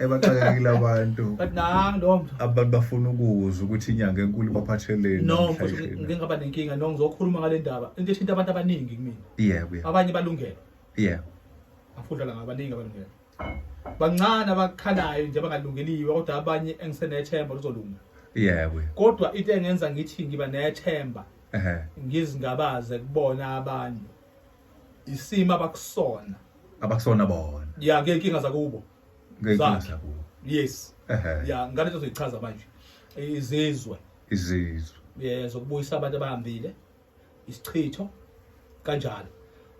ebaxakekile abantu but nang lo mfo abantu bafuna ukuzwa ukuthi inyanga enkulu baphatheleni no mfo namhlanje na. ngike ngaba nenkinga no ngizokhuluma ngale ndaba into eshinta abantu abaningi kumina yebo yebo abanye balungele yebo afudlala ngabaningi abalungele bancane abakhalayo nje abangalungeliwe kodwa abanye engisenethemba luzolunga yebo yebo. kodwa into engenza ngithi ngiba nethemba ehe ngizingabaze kubona abantu isimo abakusona abakusona bona ya ngeyinkinga zakubo ngeyinkinga Zakhe. zakubo yes Ehhe. ya ngane into zoyichaza manje izizwe izizwe eh, zokubuyisa abantu abahambile isichitho kanjalo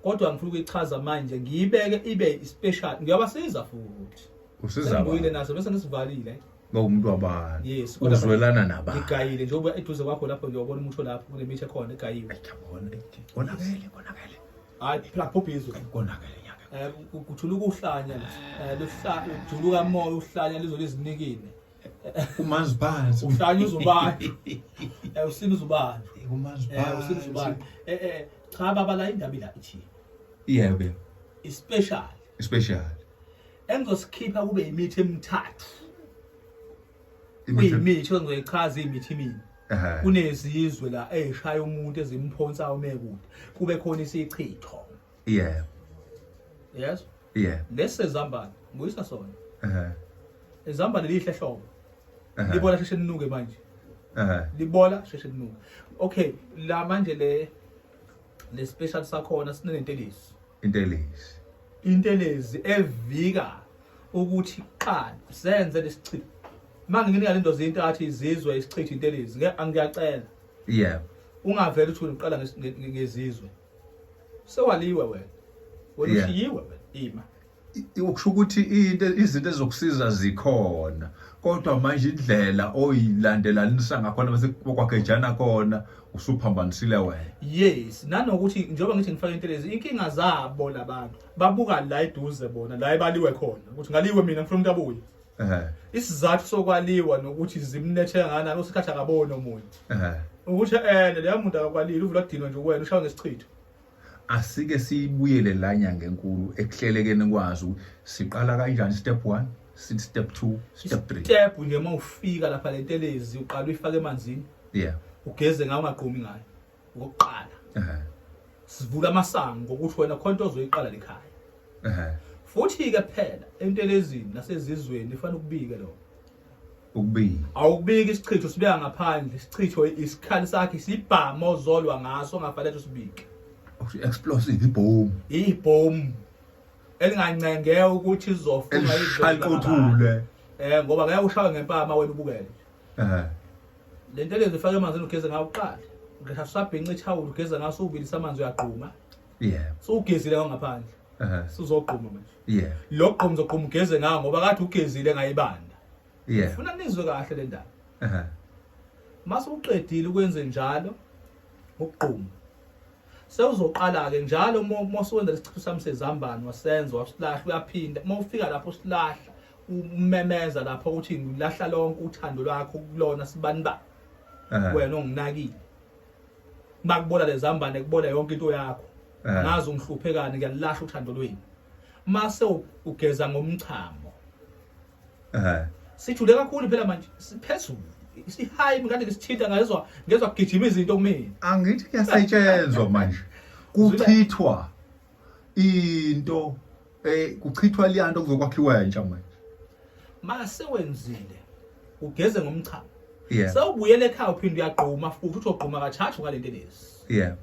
kodwa ngifuna ukuyichaza manje ngiyibeke ibe special ngiyabasiza futhi usiza sengibuyile abantu. naso bese ngisivalile Ba umuntu wabani? Yes. kodwa Uzwelana nabani? Igayile njengoba eduze kwakho lapho nje ubona umuntu olapho kunemithi ekhona egayile. Ayabona ethi konakele konakele. Hayi phela phuphi izwe. Konakele nyaka. Eh kuthula ukuhlanya eh luhlanya ujuluka moya uhlanya lizolo izinikile. Umanzi phansi. Uhlanya uzubani? Eh usini uzubani? Umanzi Eh phansi. usini uzubani? Eh eh cha baba la indaba ila ithi Yebo. ispecial Special. engizosikhipha kube yimithi emithathu kuyimithi engizoyichaza iyimithi mina kunezizwe la eyishaya umuntu ezimphonsa umekude kube khona isichitho yeah yes yeah lesi zambane nguyisa sona eh izambane lihle hlobo libola sheshe linuke manje eh libola sheshe linuke okay la manje le le special sakhona sinentelisi Intelezi. Intelezi evika ukuthi qala senze lesichitho. Manje nginika lento zinto athi izizwe isichitho intelezi. Ngeke angiyacela. Yeah. Ungavela uthi uqala ngezizwe. Sewaliwe wena. Wena ushiyiwe wena ima. Ukusho ukuthi into izinto ezokusiza zikhona. Kodwa manje indlela oyilandelanisa ngakhona bese kwakhejana kona usuphambanisile wena yes nanokuthi njengoba ngithi ngifake intelezi inkinga zabo labantu babuka la eduze bona la ebaliwe khona ukuthi ngaliwe mina ngifuna umuntu abuye ehe isizathu sokwaliwa nokuthi zimlethe ngana osikhathi akaboni omunye ehe ukuthi ene leya muntu akakwalile uvula udinwe nje uwena ushawa ngesichitho Asike siyibuyele la nyanga enkulu ekuhlelekeni kwazi ukuthi siqala kanjani step 1, sithi step 2, step 3. Step nje uma ufika lapha le ntelezi uqala uyifake emanzini. Yeah. Ugeze ngayo ungaqomi ngayo. Ngokuqala. Ehhe. Sivula amasango ngokuthi wena khona into ozoyiqala lekhaya. Ehhe. Futhi ke phela entelezini nasezizweni ifanele ukubike lokho. ukubika awubiki isichitho sibeka ngaphandle isichitho isikhali sakhe sibhama ozolwa ngaso ngafanele usibike ukuthi explosive ibhomu ibhomu elingancenge ukuthi izofuna iqothule eh ngoba ngeke ushawe ngempama wena ubukele eh lento lezi ifaka emanzini ugeze ngawo uqala ngisasabhinca ithawula ugeze ngaso ubilisa amanzi uyagquma yebo so ugezile ngaphandle ehe sizogquma manje yebo lo gqomo zogquma ugeze ngawo ngoba kade ugezile ngayibanda yebo funa nizwe kahle le ndaba ehe mase uqedile ukwenze njalo ukugquma sewuzoqala ke njalo uma uma usuwenza lesichitho sami sezambane wasenza wasilahla uyaphinda uma ufika lapho usilahla umemeza lapho ukuthi ngilahla lonke uthando lwakho kulona sibani ba ehe wena onginakile makubola lezambane kubola yonke into yakho eh. ngazi ungihluphekani ngiyalahla uthando lweni mase ugeza ngomchamo eh sijule kakhulu phela manje siphezulu isihayi mkade ngisithinta ngezwa ngezwa kugijima izinto kumina angithi kuyasetshenzwa manje kuchithwa into Eh kuchithwa liyanto kuzokwakhiwa entsha manje. Mase wenzile ugeze ngomchamo. Yeah. Sawubuyela ekhaya uphinde uyagquma futhi uthi ogquma kathathu ngalento lezi. Yeah.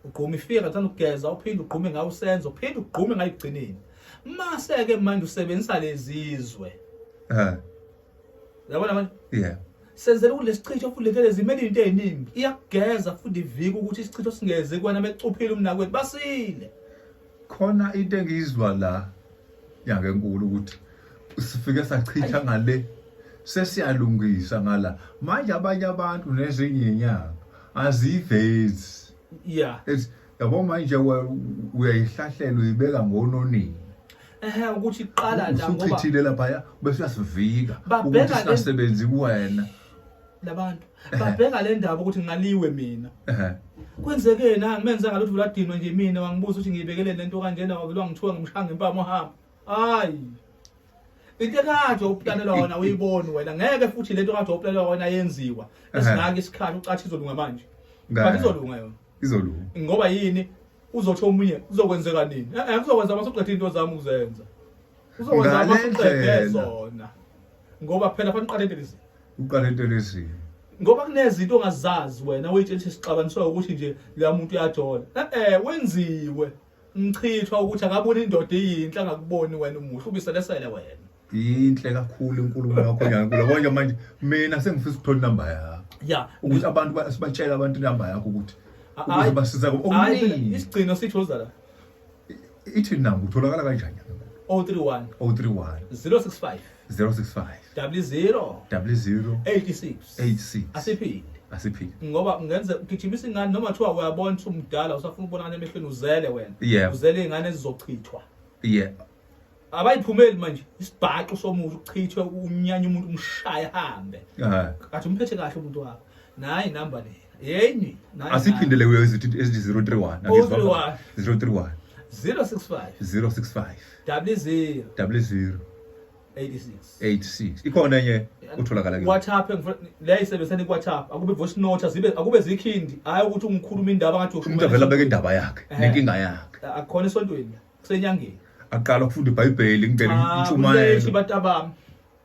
Ugquma ifika kathanda ukugeza uphinde ugqume ngawo usenzo uphinde ugqume ngayigcineni. Mase ke manje usebenzisa lezizwe. Eh. Uyabona manje? Yeah. Senzela ukuthi lesichitho futhi levele zimele into eziningi. Iyakugeza futhi ivika ukuthi isichitho singeze kwana mecuphile umnakwethu basile. Khona into engiyizwa la nyaka enkulu ukuthi sifike sachitha ngale sesiyalungisa ngala manje abanye abantu nezinye inyanga azivezi yeah yabo manje uyayihlahlela uyibeka ngononini ehe ukuthi iqala la ngoba usuchithile lapha ya bese uyasivika ukuthi singasebenzi kuwena labantu babheka le ndaba ukuthi ngaliwe mina ehe kwenzeke yena ngimenza ngalutho ladinwa nje mina wangibuza ukuthi ngiyibekele lento kanjena wavelwa ngithiwa ngimshanga impama uhamba hayi into ekade uplanelwa wona uyiboni wena ngeke futhi lento kade uplanelwa wona yenziwa esingaka isikhathi ucathi izolunga manje but izolunga yona izolunga ngoba yini uzothi omunye uzokwenzeka nini eh kuzokwenza masuqethe into zami ukuzenza uzokwenza masuqethe zona ngoba phela fanele uqale into lezi uqale into lezi ngoba kunezinto ongazazi wena uyitshela ukuthi sixabaniswa ukuthi nje leya muntu uyajola eh wenziwe ngichithwa ukuthi akaboni indoda iyinhle angakuboni wena umuhle ubiselesele wena yinhle kakhulu inkulumo yakho nyankula konje manje mina sengifisa ukuthola inamba yakho ya ukuthi abantu ba- sibatshele abantu inamba yakho ukuthi A- ukuze ayi- basiza hayi, okuningi isigcino sithoza la ithi namba utholakala kanjani 031 031 065 065 double zero double zero 86 86 asiphinde asiphinde ngoba ungenze ugijimisa ingane noma kuthiwa uyabona ukuthi umdala usafuna ukubonakala emehlweni uzele wena Yeah. uzele ingane ezizochithwa yeah abayiphumeli manje isibhaxu somuntu uchithwe unyanya umuntu umshaya hambe Ah, kathi umphethe kahle umuntu wakho nayi number le yenyi asiphindele kuyo izithi ezithi 031 031 031 065 065 double 0 double 0 86 ikhona enye utholakala ke WhatsApp le isebenzisana iWhatsApp akube voice note zibe akube zikhindi hayi ukuthi ungikhuluma indaba ngathi umuntu avela beke indaba yakhe nenkinga yakhe akukhona esontweni kusenyangeni aqala ukufunda iBhayibheli ngicela intshumayelo abantu abami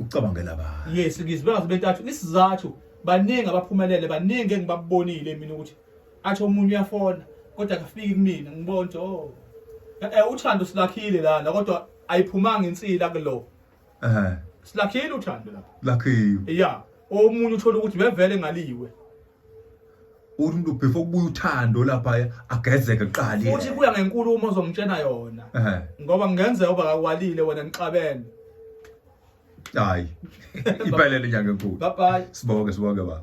ucabangela ba yes ngizwe bengaze betathu isizathu baningi abaphumelele baningi engibabonile mina ukuthi athi omunye uyafona kodwa akafiki kumina ngibona ukuthi oh eh, eh uthando silakhile lana kodwa ayiphumanga insila kulo eh silakhile uthando lapha lakhiwe yeah omunye uthola ukuthi bevele ngaliwe uthi umuntu before kubuya uthando laphaya agezeke kuqala yena. Futhi kuya ngenkulu uma uzomtshena yona. Ehhe. Ngoba kungenzeka uba kakwalile wena nixabene. Hayi. Iphelele inyanga enkulu. Bye bye. Sibonge sibonge baba.